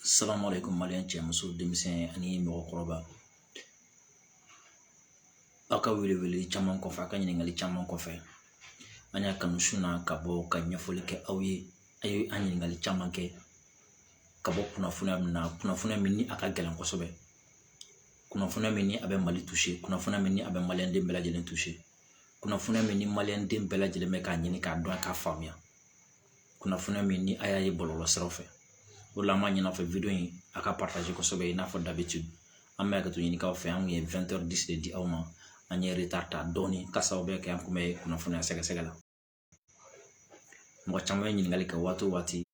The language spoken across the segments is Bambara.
salamalekun maliyɛn cɛ muso denmisɛn ani mɔgɔkɔrɔba aw ka wele wele caman kɔfɛ a ka ɲininkali caman kɔfɛ an y'a kanu su in na ka bɔ ka ɲɛfɔli kɛ aw ye a ye an ɲininkali caman kɛ ka bɔ kunnafoniya min na kunnafoniya min ni a ka gɛlɛn kosɛbɛ kunnafoniya min ni a bɛ mali tuse kunnafoniya min ni a bɛ maliyɛn den bɛɛ lajɛlen tuse kunnafoniya min ni maliyɛn den bɛɛ lajɛlen bɛ k'a ɲini k'a dɔn k'a faamuya kunnafoniya min ni a y'a ye bɔlɔlɔ siraw fɛ o de la an b'a ɲini aw fɛ vidéo in a k'a partager kosɛbɛ i n'a fɔ d'habitude an bɛ hakɛto ɲini aw fɛ an kun ye vingt heures dix de di aw ma an ye retard ta dɔɔni ka sababu kɛ an kun bɛ kunnafoniya sɛgɛsɛgɛ la mɔgɔ caman ye ɲininkali kɛ waati o waati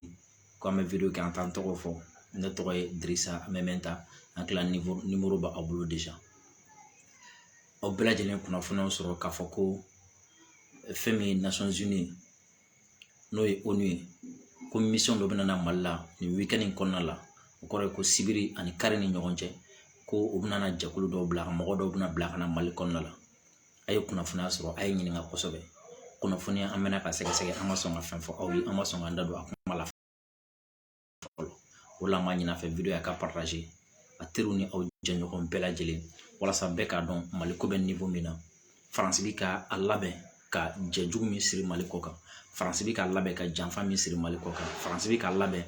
ko an bɛ vidéo kɛ an t'an tɔgɔ fɔ ne tɔgɔ ye dirisa mɛminta an kila ni nimoro bɛ aw bolo déjà aw bɛɛ lajɛlen kunnafoniyaw sɔrɔ k'a fɔ ko fɛn min ye n'o ye onu ye ko mission dɔ bɛna na mali la nin week-end in kɔnɔna la o kɔrɔ ye ko sibiri ani kari ni ɲɔgɔn cɛ ko u bɛna na jɛkulu dɔw bila ka mɔgɔ dɔw bɛna bila ka na mali kɔnɔna la a ye kunnafoniya sɔrɔ a ye ɲininka kosɛbɛ kunnafoniya an bɛna ka sɛgɛsɛgɛ an ma sɔn ka fɛn fɔ aw ye an ma sɔn k'an da don a kuma la fɔlɔ o la an b'a ɲin'a fɛ vidéo in a k'a partager a teriw ni aw jɛɲɔgɔn bɛɛ lajɛlen walasa bɛɛ k'a dɔn mali ko bɛ niveau min na faransi bɛ ka a labɛn ka jɛ jugu min siri mali kɔ kan faransi bɛ ka labɛn ka janfa min siri mali kɔ kan faransi bɛ ka labɛn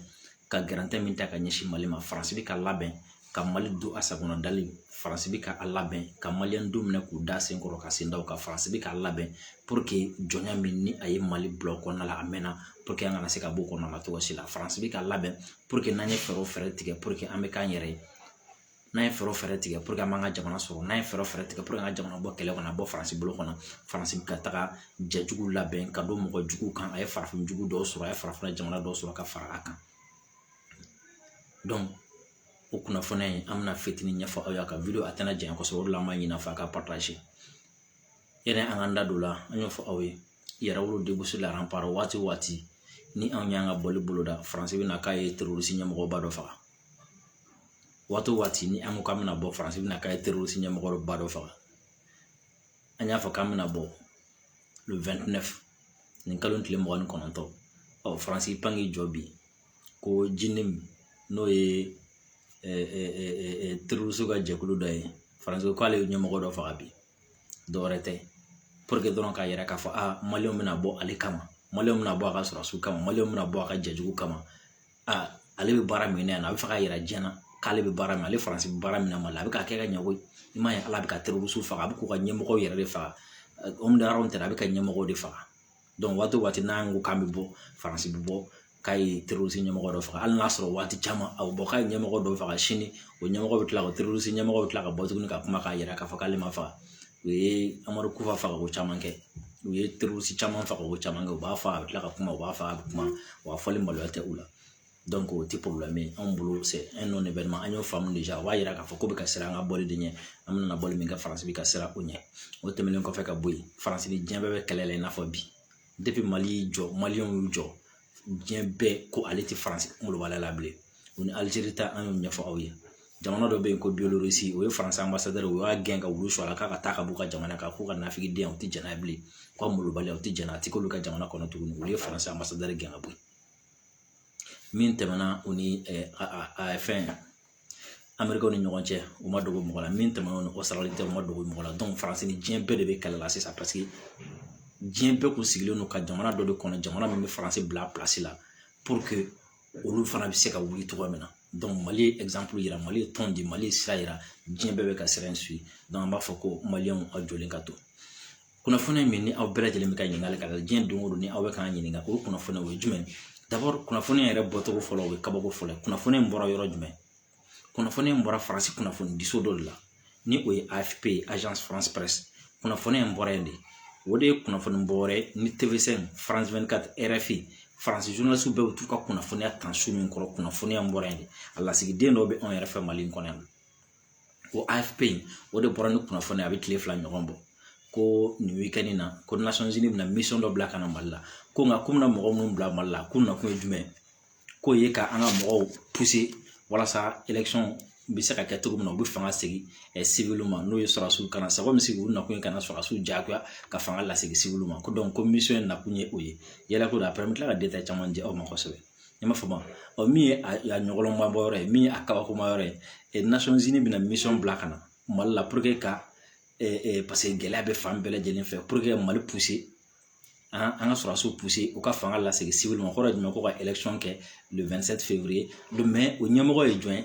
ka gɛrɛntɛ min ta ka ɲɛsin mali ma faransi bɛ ka labɛn ka mali don a sagona dali faransi bɛ ka a labɛn ka maliyɛn don minɛ k'u da sen kɔrɔ ka sen da u kan faransi bɛ k'a labɛn pour que jɔnya min ni a ye mali bila o kɔnɔna la a mɛnna pour que an kana se ka bɔ o kɔnɔna na cogo si la faransi bɛ ka labɛn pour que n'an ye fɛɛrɛ o fɛɛrɛ tigɛ pour que an bɛ k'an yɛrɛ ye n'an ye fɛɛrɛ o fɛɛrɛ tigɛ pour que an b'an ka jamana sɔrɔ n'an ye fɛɛrɛ o fɛɛrɛ tigɛ pour que an ka jamana bɔ kɛlɛ kɔnɔ bɔ faransi bolo kɔnɔ faransi bɛ ka taga jɛjugu labɛn ka don mɔgɔ jugu kan a ye farafin jugu dɔw sɔrɔ a ye farafinna jamana dɔw sɔrɔ ka fara a kan o kunnafoniya in an bɛna fitinin ɲɛfɔ aw ye a ka vidéo a tɛna janya kosɛbɛ o de la an b'a ɲini a fɛ a k'a partager yanni an k'an da don o la an y'o fɔ aw ye yɛrɛwolo debout sur les remparts waati o waati ni anw y'an ka bɔli boloda faransi bɛ na k'a ye terroriste ɲɛmɔgɔba dɔ faga waati o waati ni an ko k'an bɛna bɔ faransi bɛna k'a ye terroriste ɲɛmɔgɔba dɔ faga an y'a fɔ k'an bɛna bɔ le vingt-neuf nin kalo tile mugan ni kɔnɔntɔn ɔ faransi y'i pan k'i jɔ bi ko jnim n'o ye terroriste ka jɛkulu dɔ ye faransi k'ale ye ɲɛmɔgɔ dɔ faga bi dɔwɛrɛ tɛ pour que dɔrɔn k'a yira k'a fɔ a maliyɛnw bɛna bɔ ale kama maliyɛnw bɛna bɔ a ka sɔrɔdasiw kama maliyɛnw bɛna bɔ a ka jɛ jugu kama aa ale bɛ baara min na yan a bɛ fɛ k'a yira diɲɛ na k'ale bɛ baara min ale faransi bɛ baara min na mali la a bɛ k'a kɛ ka ɲɛ koyi i m'a ye ale bɛ ka terroriste faga a bɛ k'u ka ɲɛmɔgɔ yɛrɛ de faga homme de rang tɛ a bɛ ka ɲɛmɔgɔ de faga waati o waati n'an ko k'an bɛ bɔ faransi bɛ bɔ k'a ye terorisi ɲɛmɔgɔ dɔ faga hali n'a sɔrɔ waati caman a bɛ bɔ k'a ye ɲɛmɔgɔ dɔ faga sini o ɲɛmɔgɔ bɛ tila ka terorisi ɲɛmɔgɔ bɛ tila ka bɔ tuguni ka kuma k'a yira k'a fɔ k'ale ma faga u ye amadu kufa faga ko caman kɛ u ye terorisi caman faga ko caman kɛ u b'a fɔ a bɛ tila ka kuma u b'a fɔ a bɛ kuma wa fɔli maloya tɛ u la o tɛ problème ye anw bolo c'est un non événement an y'o faamu déjà o b'a yira k'a fɔ ko bɛ ka siran an ka bɔli de ɲɛ an bɛna bɔli min kɛ faransi bɛ ka siran o ɲɛ o tɛmɛnen kɔfɛ ka bɔ yen faransi ni diɲɛ bɛɛ bɛ kɛlɛ la i n'a fɔ bi depuis mali y'i jɔ maliyɛnw y'u jɔ diɲɛ bɛɛ ko ale tɛ faransi kunkolo b'a la bilen u ni alizeri ta an y'o ɲɛfɔ aw ye jamana dɔ bɛ yen ko biélorussie o ye faransi anbasadɛri o y'a gɛn ka wulu su a la k'a ka taa ka b'u ka jamana kan k'u ka nafigiden u tɛ jɛn n'a ye bilen u ka molobaliya u tɛ jɛn n'a ye a tɛ k'olu ka jamana kɔnɔ tuguni olu ye faransi anbasadɛri gɛn ka bɔ yen min tɛmɛna o ni a fɛn amerikɛnw ni ɲɔgɔn cɛ o ma dogo mɔgɔ la min tɛmɛna o ni ɔsitarali cɛ o ma dogo mɔgɔ la donc faransi ni diɲɛ bɛɛ de bɛ kɛlɛ la sisan paseke diɲɛ bɛɛ kun sigilen don ka jamana dɔ de kɔnɔ jamana min bɛ faransi bila place la pour que olu fana bɛ se ka wuli cogoya min na donc mali ye exemple yira mali ye tɔn di mali ye sira yira diɲɛ bɛɛ bɛ ka sira in suivre donc an b'a fɔ ko maliyɛnw aw jɔlen ka to kunnafoni min ni aw bɛɛ lajɛlen bɛ ka ɲininkali kɛ diɲɛ don o don ni aw bɛ k'an ɲininka o kunnafoni o ye jumɛn ye d'abord kunnafoni yɛrɛ bɔcogo fɔlɔ o ye kabako fɔlɔ ye kunnafoni in bɔra yɔrɔ jumɛn kunnafoni in bɔra faransi kunnafoni diso dɔ de la ni o ye afp ye agence france presse kunnafoni in bɔra yen de o de ye kunnafoni bɔ yɔrɔ ye ni tv5 faransi vingt-quatre rfi faransi journalistes bɛɛ bɛ t'u ka kunnafoniya ta sun min kɔrɔ kunnafoniya in bɔra yen de a lasigiden dɔ bɛ anw yɛrɛ fɛ mali in kɔnɔ yan o afp o de bɔra ni kunnafoni a bɛ tile fila ɲɔgɔn bɔ ko nin week-end in na ko nations unies bɛna misɔn dɔ bila ka na mali la ko nka k'u bɛna mɔgɔ minnu bila mali la k'u nakun ye jumɛn k'o ye ka an ka mɔgɔw puse walasa election bɛ se ka kɛ cogo min na u bɛ fanga segin sivili ma n'o ye sɔrɔsiw kana c'est comme si u nakun ye ka na sɔrɔsiw jagoya ka fanga lasegin sivili ma ko donc ko misɔn in nakun ye o ye yala ko après n bɛ tila ka détail caman di aw ma kosɛbɛ i m'a faamu ɔ min ye a ɲɔgɔlɔnma bɔ yɔrɔ ye min ye a kabakoma yɔrɔ ye nations unies bɛna misɔn bila ka na mali la puruke ka paseke gɛlɛya bɛ fan bɛɛ lajɛlen fɛ puruke mali puse an ka sɔrɔsiw puse u ka fanga lasegin sivili ma kɔrɔ jumɛn ko ka élection kɛ le vingt-sept février mɛ o ɲɛmɔgɔ ye jɔn ye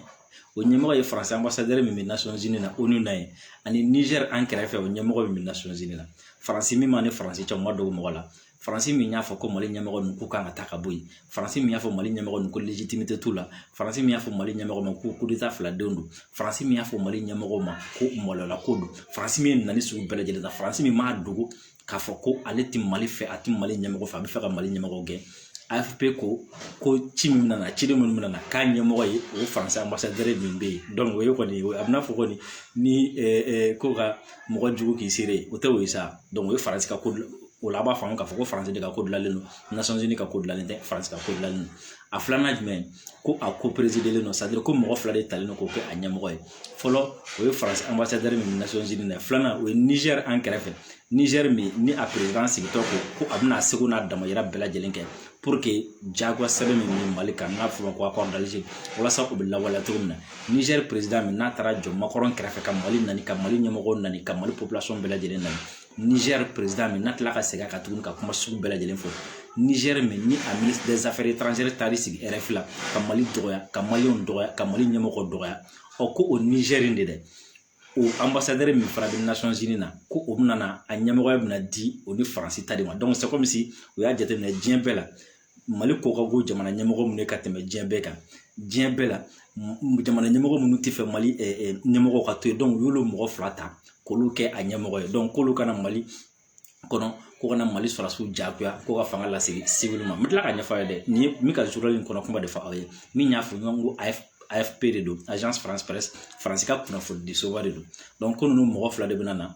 o ɲɛmɔgɔ ye faransi anbasadɛri min bɛ nations unies na onu na ye ani nizɛri an kɛrɛfɛ o ɲɛmɔgɔ min bɛ nations unies na faransi min mali ni faransi cɛ ma dogo mɔgɔ la faransi min y'a fɔ ko mali ɲɛmɔgɔ ninnu k'u kan ka taa ka bɔ yen faransi min y'a fɔ mali ɲɛmɔgɔ ninnu ko légitimité t'u la faransi min y'a fɔ mali ɲɛmɔgɔ ma ko kudeta fila denw don faransi min y'a fɔ mali ɲɛmɔgɔ ma ko malola ko don faransi min ye nɛni sugu bɛɛ lajɛlen ta faransi min m'a dogo k'a fɔ ko ale tɛ mali fɛ a tɛ mali ɲɛmɔgɔ fɛ a bɛ fɛ ka mali ɲɛmɔgɔ gɛn afp ko ko ci min nana ciden minnu nana k'a ɲɛmɔgɔ ye o faransi anbasadɛri min bɛ yen donc o ye kɔni a bɛna fɔ kɔni ni ko ka mɔgɔ jugu k'i seere o tɛ o ye sa donc o ye faransi ka ko o la a b'a faamu k'a fɔ ko faransi de ka ko dilanlen don nations unies ka ko dilanlen tɛ faransi ka ko dilanlen don a filanan jumɛn ko a ko perezidelen don sadiri ko mɔgɔ fila de talen don k'o kɛ a ɲɛmɔgɔ ye fɔlɔ o ye faransi anbasadɛri min bɛ nations unies na filanan o ye nizɛri an kɛrɛfɛ nizɛri min ni a perezidan sigitɔ ko ko a bɛna seko n'a damayira bɛɛ lajɛlen kɛ puruke jagoya sɛbɛn min bɛ mali kan n'a fɔra ko accord d'alger walasa o bɛ lawaleya cogo min na nizɛri perezidan min n'a taara jɔ macron kɛrɛfɛ ka mali nani ka mali ɲɛmɔgɔ nani ka mali population bɛɛ lajɛlen na nizɛri perezidan min n'a tila ka segin a kan tuguni ka kuma sugu bɛɛ lajɛlen fɔ nizɛri min ni a minisiri des affaires étrangères taar'i sigi rfi la ka mali dɔgɔya ka maliyɛnw dɔgɔya ka mali ɲɛmɔgɔ dɔgɔya ɔ ko o nizɛri in de dɛ o anbasadɛri min fana bɛ nations unies na ko o bɛna a ɲɛmɔgɔya bɛna di o ni faransi ta de ma dɔnku c'est comme si u y'a jateminɛ diɲɛ bɛɛ la mali ko ka go jamana ɲɛmɔgɔ minnu ye ka tɛmɛ diɲɛ bɛɛ kan diɲɛ bɛɛ la jamana ɲɛmɔgɔ minnu t'a fɛ mali ɲɛmɔgɔ ka to yen dɔnku u y'olu mɔgɔ fila ta k'olu kɛ a ɲɛmɔgɔ ye dɔnku k'olu ka na mali kɔnɔ ko ka na mali sɔrɔdasiw jagoya ko ka fanga lasegin siwili ma n bɛ tila ka ɲɛfɔ a ye dɛ nin ye min ka journal in kɔnɔ kuma de fɔ aw ye min y'a fɔ ɲɔgɔn ko a ye afp de don agence france presse faransi ka kunnafoni di soba de don dɔnku ko ninnu mɔgɔ fila de bɛ na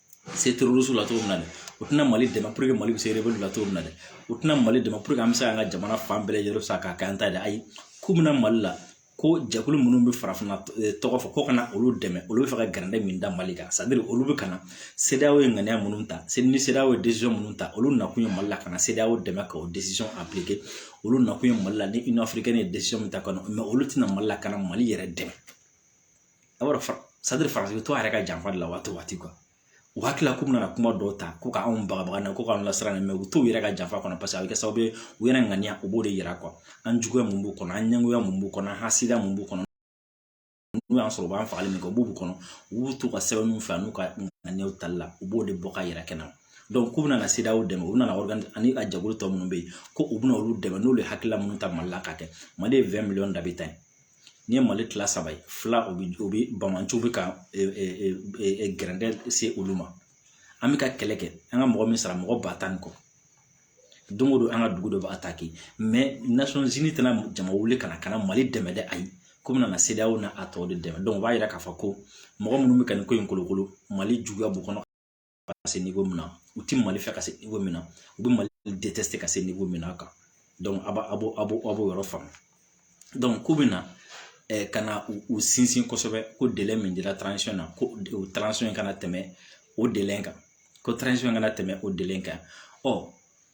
se terroristes la cogo min na dɛ u tɛna mali dɛmɛ puruke mali bɛ se rebelles la cogo min na dɛ u tɛna mali dɛmɛ puruke an bɛ se k'an ka jamana fan bɛɛ lajɛlen sa k'a kɛ an ta ye dɛ ayi k'u bɛ na mali la ko jɛkulu minnu bɛ farafinna tɔgɔ fɔ ko ka na olu dɛmɛ olu b'a fɛ ka gɛrɛndɛ min da mali kan sadiri olu bɛ ka na cedeao ye ŋaniya minnu ta ni cedeao ye décision minnu ta olu nakun ye mali la ka na cedeao dɛmɛ ka o décision aplike olu nakun ye mali la ni union africaine ye décision min ta kɔnɔ mɛ olu tɛ na mali la ka na mali yɛrɛ dɛmɛ a b'a dɔn sadiri faransi bɛ to a yɛrɛ ka janfa de la waati o waati u hakili la k'u bɛna kuma dɔw ta ko k'anw bagabaga na ko k'an lasiran mɛ u t'u yɛrɛ ka janfa kɔnɔ paseke a bɛ kɛ sababu ye u yɛrɛ ŋaniya u b'o de yira an juguya min b'u kɔnɔ an ɲɛngoya min b'u kɔnɔ an hasidiya min b'u kɔnɔ n'u y'a sɔrɔ u b'an fagali min kɛ o b'u kɔnɔ u b'u to u ka sɛbɛnniw fɛ n'u ka ŋaniyaw tali la u b'o de bɔ ka yira kɛnɛ dɔnku k'u bɛna cedeao dɛmɛ u nana ani a jɛkulu tɔ minnu bɛ yen ko u bɛna olu dɛmɛ n'olu ye hakilila minnu ta mali la ka kɛ mali ye vingt millions d'habitants ye n'i ye mali tila saba ye fila o bi o bi banbaanciw bi ka gɛrɛndɛ se olu ma an bɛ ka kɛlɛ kɛ an ka mɔgɔ min sara mɔgɔ ba tan ni kɔ don o don an ka dugu dɔ bɛ attaqué mɛ nations unies tɛna jama wuli ka na ka na mali dɛmɛ dɛ ayi k'u bɛna na cedeao n'a tɔw de dɛmɛ dɔnku o b'a yira k'a fɔ ko mɔgɔ minnu bɛ ka nin ko in kolokolo mali juguya b'u kɔnɔ ka se niko min na u ti mali fɛ ka se niko min na u bɛ mali de tɛ se ka se niko min na a kan a b'a a b'o a b'o a b'o yɔrɔ faamu ko bɛ na ka na u sinsin kosɛbɛ ko dɛmɛ min dira na ko o in kana tɛmɛ o dɛmɛ kan ko in kana tɛmɛ o dɛmɛ kan ɔ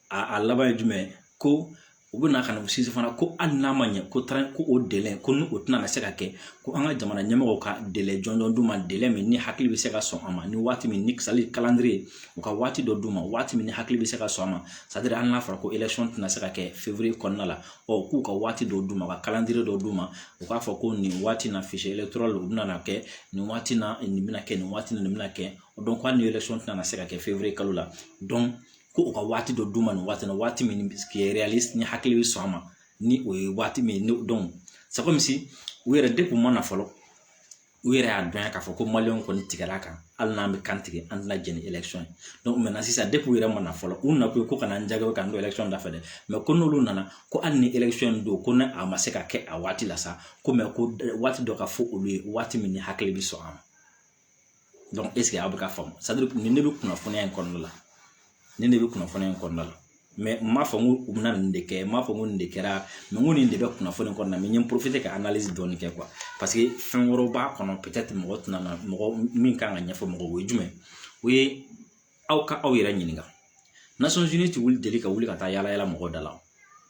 a laban ye jumɛn ye ko u bɛ na ka na u sinsin fana ko hali n'a ma ɲɛ ko taara ko o délai ko ni o tɛna se ka kɛ ko an ka jamana ɲɛmɔgɔw ka délai jɔnjɔn d'u ma délai min ni hakili bɛ se ka sɔn a ma ni waati min ni kisali calendrier u ka waati dɔ d'u ma waati min ni hakili bɛ se ka sɔn a ma c'est-à-dire hali n'a fɔra ko élection tɛna se ka kɛ février kɔnɔna la ɔ k'u ka waati dɔ d'u ma ka calendrier dɔ d'u ma u k'a fɔ ko nin waati na fichier électoral u bɛna kɛ nin waati na nin bɛna kɛ nin waati nin bɛna kɛ donc ko hali ni élection tɛna se ka kɛ février kalo la donc ko u ka waati dɔ d'u ma nin waati la waati min qui est réaliste ni hakili bɛ sɔn a ma ni o ye waati min ye donc c'est comme si u yɛrɛ depuis u ma na fɔlɔ u yɛrɛ y'a dɔn k'a fɔ ko maliyɛnw kɔni tigɛra kan hali n'an bɛ kan tigɛ an tɛna jɛn ni élection ye sisan u yɛrɛ ma na fɔlɔ u nakun ye ko ka na an jaabi k'an don élection da fɛ dɛ ko n'olu nana ko hali ni élection in don ko ni a ma se ka kɛ a waati la sa ko ko waati dɔ ka fɔ olu ye waati min ni hakili bɛ sɔn a ma est-ce que aw bɛ ka faamu nin de bɛ kunnafoniya in kɔnɔna la nin de bɛ kunnafoniya in kɔnɔna la mais n m'a fɔ n ko u bɛna nin de kɛ n m'a fɔ ko nin de kɛra n ko nin de bɛ kunnafoni kɔnɔna na n ye profiter ka analyse dɔɔni kɛ parce que fɛn wɛrɛw b'a kɔnɔ peut-être mɔgɔ tɛna mɔgɔ min kan k'a ɲɛfɔ mɔgɔw ye jumɛn o ye aw ka aw yɛrɛ ɲininka nations unies ti wuli deli ka wuli ka taa yala yala mɔgɔ da la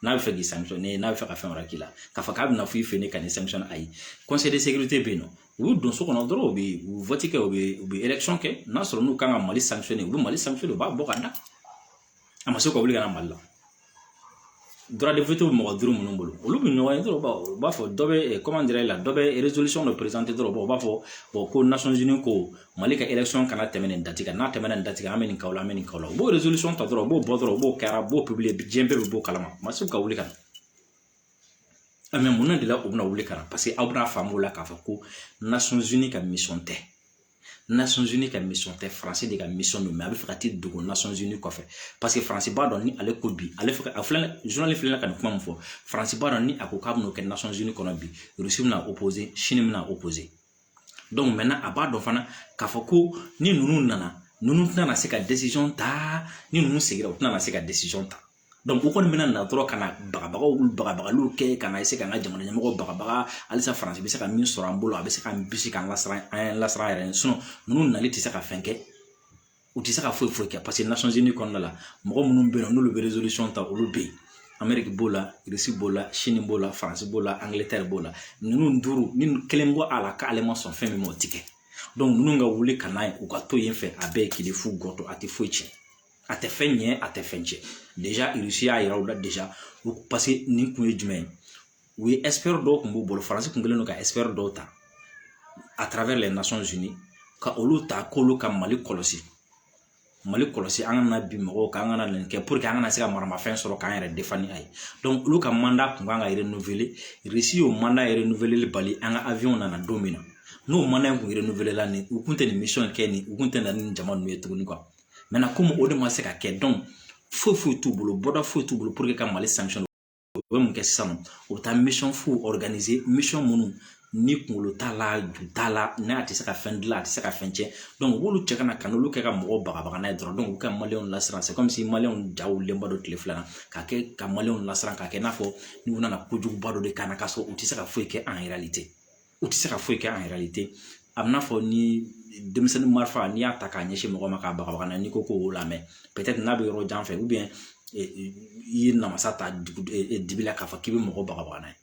n'a bɛ fɛ k'i sanctionner n'a bɛ fɛ ka fɛn wɛrɛ k'i la k'a fɔ k'a bɛna fɔ i fɛ ne ka nin sanctionner ayi conseil de sécurité bɛ yen nɔ u bɛ don so kɔnɔ dɔrɔn u bɛ vote kɛ u bɛ élection kɛ n'a sɔrɔ n'u kan ka mali sanctionner u bɛ mali sanctionner u b'a bɔ ka da a ma se ka wuli ka na mali la bɛ mɔgɔ duuru minnu bolo olu bɛ ɲɔgɔn ye dɔrɔn u b'a fɔ dɔ bɛ comment dirais-je là dɔ bɛ résolution dɔ présenter dɔrɔn u b'a fɔ ko nations unies ko mali ka élection kana tɛmɛ nin date kan n'a tɛmɛna nin date kan an bɛ nin k'aw la an bɛ nin k'aw la u b'o résolution ta dɔrɔn u b'o bɔ dɔrɔn u b'o kɛ u b'o publier diɲɛ bɛɛ bɛ bɔ a kalama a ma se ka wuli ka na mais mun de la u bɛna wuli ka na parce que aw bɛna faamu o la k'a fɔ ko nations unies ka mission tɛ nations unies ka mission tɛ faransi de ka mission don mais a bɛ fɛ ka t'i dogo nations unies kɔfɛ parce que faransi b'a dɔn ni ale ko bi ale fɛ a filɛ journaliste filɛ ka nin kuma min fɔ faransi b'a dɔn ni a ko k'a bɛn'o kɛ nations unies kɔnɔ bi rusi bɛna opposer sini bɛna opposer donc maintenant a b'a dɔn fana k'a fɔ ko ni ninnu nana ninnu tɛna se ka décision ta ni ninnu sigira u tɛna se ka décision ta u kɔni bɛna na dɔrɔn ka na bagabagaliw kɛ ka na essayer ka an ka jamana ɲɛmɔgɔ bagabaga halisa faransi bɛ se ka min sɔrɔ an bolo a bɛ se ka bisi k'an lasiran an lasiran yɛrɛ sinon ninnu nali tɛ se ka fɛn kɛ u tɛ se ka foyi foyi kɛ parce que nations unies kɔnɔna la mɔgɔ minnu bɛ yen n'olu bɛ résolution ta olu bɛ yen ameriki b'o la irisi b'o la sini b'o la faransi b'o la angilɛtɛri b'o la ninnu duuru ni kelen bɔ a la k'ale ma sɔn fɛn min ma o ti kɛ ninnu ka wuli ka na ye u ka to yen fɛ a bɛɛ ye kile fu gɔtɔ a tɛ foyi tiɲɛ a tɛ fɛn ɲɛ a tɛ fɛn tiɲɛ déjà irisi y'a yira u la déjà paseke nin kun ye jumɛn ye u ye expert dɔw kun b'u bolo faransi kun kɛlen don ka expert dɔw ta à travers les Nations Unies ka olu ta k'olu ka mali kɔlɔsi mali kɔlɔsi an kana bin mɔgɔw kan an kana nin kɛ pour que an kana se ka maramafɛn sɔrɔ k'an yɛrɛ défendre ni a ye donc olu ka mandat kun kan ka renouveler irisi y'o mandat renouveler bali an ka avion nana don min na n'o mandat in kun renouveler la nin u kun tɛ nin mission kɛ nin u kun tɛ na ni jama ninnu ye tuguni quoi maintenant komi o de ma se ka kɛ donc foyi foyi t'u bolo bɔda foyi t'u bolo pour que ka mali sanctionner u bɛ mun kɛ sisan u bɛ taa mission fuw organiser mission minnu ni kunkolo t'a la ju t'a la n'a tɛ se ka fɛn dilan a tɛ se ka fɛn tiɲɛ donc u b'olu ci ka na ka n'olu kɛ ka mɔgɔw bagabaga n'a ye dɔrɔn donc u ka maliyɛnw lasiran c'est comme si maliyɛnw ja wulilenba don tile fila in na k'a kɛ ka maliyɛnw lasiran k'a kɛ i n'a fɔ n'u nana kojuguba dɔ de kama k'a sɔrɔ u tɛ se ka foyi kɛ en réalité u tɛ se ka foyi kɛ en réalité a bɛ n'a fɔ ni denmisɛnnin marifa n'i y'a ta k'a ɲɛsin mɔgɔ ma k'a bagabaga n'a n'i ko k'o lamɛn peut-être n'a bɛ yɔrɔ jan fɛ ou bien i ye namasa ta dugu dibi la k'a fɔ k'i bɛ mɔgɔ bagabaga n'a ye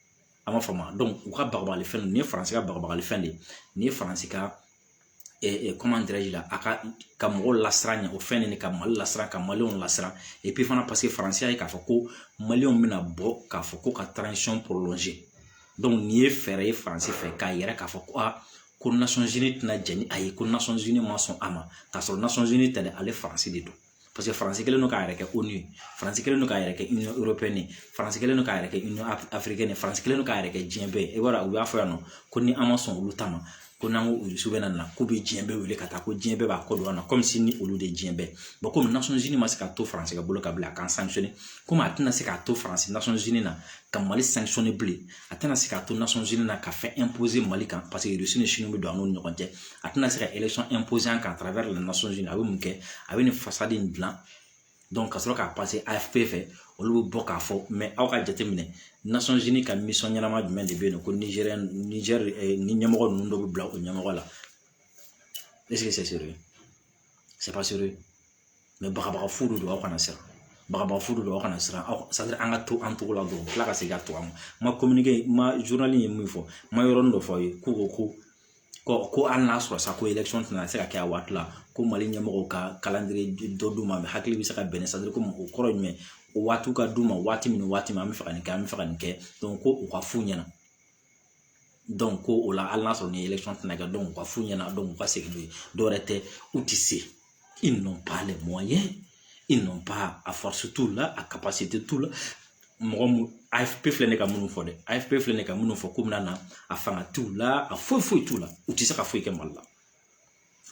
a ma faamu donc u ka bagabagali fɛn nin ye faransi ka bagabagali fɛn de ye nin ye faransi ka a ka mɔgɔw lasiran ɲɛ o fɛn nin ka mali lasiran ka maliyɛnw lasiran et puis fana paseke faransi y'a ye k'a fɔ ko maliyɛnw bɛna bɔ k'a fɔ ko ka transition prolonger donc nin ye fɛɛrɛ ye faransi fɛ k'a yira k'a fɔ ko aa ko Nations Unies tɛna jɛn ni a ye ko Nations Unies ma sɔn a ma k'a sɔrɔ Nations Unies tɛ dɛ ale faransi de don paseke faransi kɛlen don k'a yɛrɛ kɛ ONU ye faransi kɛlen don k'a yɛrɛ kɛ Union européenne ye faransi kɛlen don k'a yɛrɛ kɛ Union africaine ye faransi kɛlen don k'a yɛrɛ kɛ diɲɛ bɛɛ ye i b'a dɔn u y'a fɔ yan nɔ ko ni an ma sɔn olu ta ma ko n'an ko Russe bɛ na k'u bɛ diɲɛ bɛɛ wele ka taa ko diɲɛ bɛɛ b'a kɔ don an na comme si ni olu de ye diɲɛ bɛɛ bon komi Nations Unies ma se ka to faransi ka bolo ka bila a k'an sanctionner komi a tɛna se k'a to faransi Nations Unies na ka mali sanctionner bilen a tɛna se k'a to Nations Unies na ka fɛn imposer mali kan paseke Russie ni Chine bɛ don an n'u ni ɲɔgɔn cɛ a tɛna se ka élection imposer an kan à travers les Nations Unies a bɛ mun kɛ a bɛ nin façade in dilan donc ka sɔrɔ k'a passer afp fɛ olu bɛ bɔ k'a fɔ mais aw ka jateminɛ Nations Unies ka mission ɲɛnama jumɛn de bɛ yen nɔ ko nizɛri ni ɲɛmɔgɔ ninnu dɔ bɛ bila o ɲɛmɔgɔ la est-ce que c'est sérieux c'est pas bagabaga fu don aw kana siran bagabaga fu don aw kana siran aw c'est-à-dire an ka to an togo la dɔrɔn ka segin ka to an ma communiqué ma journal ye min fɔ n ma yɔrɔnin dɔ fɔ aw ye ko ko ko hali n'a sɔrɔ sa ko élection tɛna se ka kɛ a waati la ko mali ɲɛmɔgɔw ka calendrier dɔ d'u ma hakili bɛ se ka bɛn c'est-à-dire ko o kɔrɔ ye jumɛn o waatiw ka d'u ma waati min waati min an bɛ fɛ ka nin kɛ an bɛ fɛ ka nin kɛ donc ko u ka f'u ɲɛna ko o la hali n'a sɔrɔ ni élection tɛna kɛ u ka f'u ɲɛna u ka segin n'o ye dɔwɛrɛ tɛ u tɛ se ils n'ont pas les moyens ils n'ont pas a force t'u la a capacité t'u la mɔgɔ mun afp filɛ ne ka minnu fɔ dɛ afp filɛ ne ka minnu fɔ ko min na a fanga t'u la a foyi foyi t'u la u tɛ se ka foyi kɛ mali la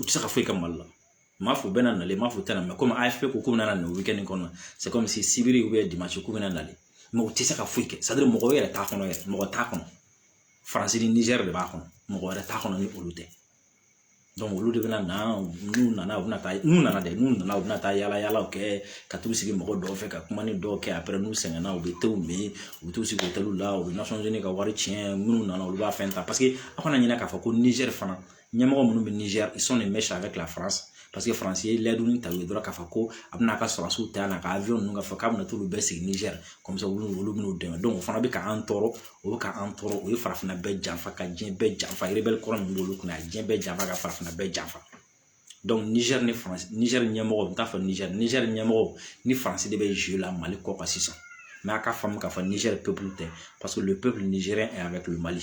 u tɛ se ka foyi kɛ mali la n m'a fɔ u bɛna na le n m'a fɔ u tɛna na komi AFP ko k'u bɛna na nin weekend nin kɔnɔ kɔmi sibiri ou bien dimansi k'u bɛna na le mɛ u tɛ se ka foyi kɛ c'est à dire mɔgɔ yɛrɛ t'a kɔnɔ yɛrɛ mɔgɔ t'a kɔnɔ faransi ni nizɛri de b'a kɔnɔ mɔgɔ wɛrɛ t'a kɔnɔ ni olu tɛ olu de bɛna na n'u nana u bɛna taa n'u nana dɛ n'u nana u bɛna taa yala yalaw kɛ ka t'u sigi mɔgɔ dɔw fɛ ka kuma ni dɔw kɛ après n'u sɛgɛnna u bɛ tew min u bɛ t'u sigi otɛliw la u bɛ Nations Unies ka wari tiɲɛ minnu nana olu b'a fɛn ta paseke aw kana ɲinɛ k'a fɔ ko nizɛri fana ɲɛmɔgɔ minnu bɛ nizɛri ils sont de mèche avec la France paseke faransi ye layidu ta u ye dɔrɔn k'a fɔ ko a bɛna a ka sɔrɔdasiw ta yan a ka avion ninnu k'a fɔ k'a bɛna t'olu bɛɛ sigi nizɛri comme ça olu bɛn'u dɛmɛ o fana bɛ k'an tɔɔrɔ o bɛ k'an tɔɔrɔ o ye farafinna bɛɛ janfa ka diɲɛ bɛɛ janfa erebɛli kɔrɔ min b'olu kunna a ye diɲɛ bɛɛ janfa ka farafinna bɛɛ janfa nizɛri ni faransi nizɛri ɲɛmɔgɔ n t'a fɔ nizɛri nizɛri ɲɛmɔgɔ ni faransi de bɛ jouer la mali kɔ kan sisan mɛ a ka faamu k'a fɔ nizɛri pepulu tɛ paseke le peuple nigérien est avec le mali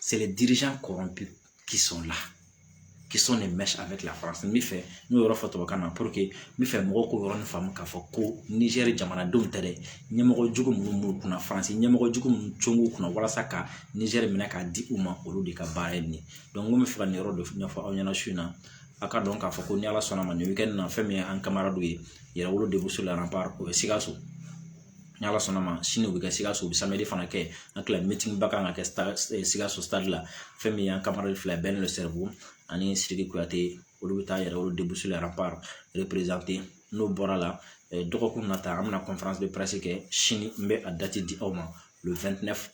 c'est les dirigeants corrompus qui sont là qui sont de mèche avec la France n bɛ fɛ n y'o yɔrɔ fɔ tubabukan na pour que n bɛ fɛ mɔgɔw k'o yɔrɔnin faamu k'a fɔ ko Niger jamanadenw tɛ dɛ ɲɛmɔgɔ jugu minnu b'u kunna France ɲɛmɔgɔ jugu minnu cun b'u kunna walasa ka Niger minɛ k'a di u ma olu de ka baara ye nin ye donc n ko n bɛ fɛ ka nin yɔrɔ dɔ ɲɛfɔ aw ɲɛna su in na a ka dɔn k'a fɔ ko ni ala sɔnna ma nin weekend na fɛn min ye an kamaradiw ye yɛrɛwolo debout sur les remparts o bɛ sikaso ni ala sɔnna ma sini o bɛ kɛ sikaso samiyɛ fana kɛ an kila mɛtiriba kan ka kɛ sikaso la fɛn min y'an ka fila bɛɛ n'o siribu ani siriki kuyate olu bɛ taa yɛrɛ olu de bɛ la n'o bɔra la dɔgɔkun na ta an bɛna kɛ sini n bɛ a dati di aw ma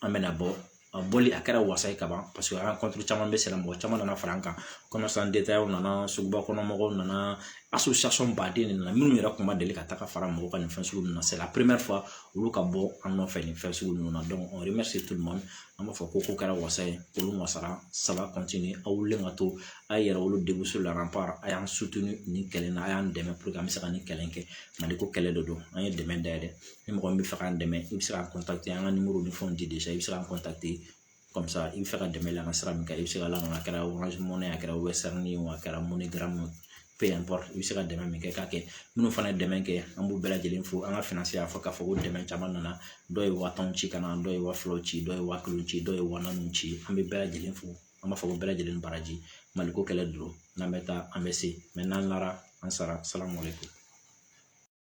an bɛna bɔ a bɔli a kɛra wasa ye ka ban paseke rencontre caman bɛ sen na mɔgɔ caman nana fara an kan commerçants détaillants nana suguba kɔnɔ mɔgɔw nana association baden de nana minnu yɛrɛ kun ma deli ka taa ka fara mɔgɔw kan nin fɛn sugu ninnu na c'est la première fois olu ka bɔ an nɔfɛ nin fɛn sugu ninnu na donc on remercie tout le monde an b'a fɔ ko ko kɛra wasa ye olu wasara ça va continuer aw wulilen ka to a ye yɛrɛwolo debout sur les remparts a y'an soutenir nin kɛlɛ in na a y'an dɛmɛ pour que an bɛ se ka nin kɛlɛ in kɛ mali ko kɛlɛ de don an ye dɛmɛ dayɛlɛ ni mɔgɔ min bɛ fɛ k'an dɛmɛ i bɛ se k'an contacter an ka numéro ni fɛnw di déjà i bɛ se k'an contacter comme ça i bɛ fɛ ka dɛmɛ la an kan sira min kan i bɛ se k'a la an kan a kɛra Orange Money ye a kɛra Western Union ye a kɛra MoneyGram ye peu importe i bɛ se ka dɛmɛ min kɛ k'a kɛ minnu fana ye dɛmɛ kɛ an b'u bɛɛ lajɛlen fo an ka financier y'a fɔ k'a fɔ ko dɛmɛ caman nana dɔw ye waa tan ci ka na dɔw ye waa fila ci dɔw ye waa kelen ci dɔw ye waa naani ci an bɛ bɛɛ lajɛlen fo an b'a fɔ ko bɛɛ lajɛlen baraji maliko kɛlɛ don n'an bɛ taa an bɛ se mais n'an lara an sara salamu aleykum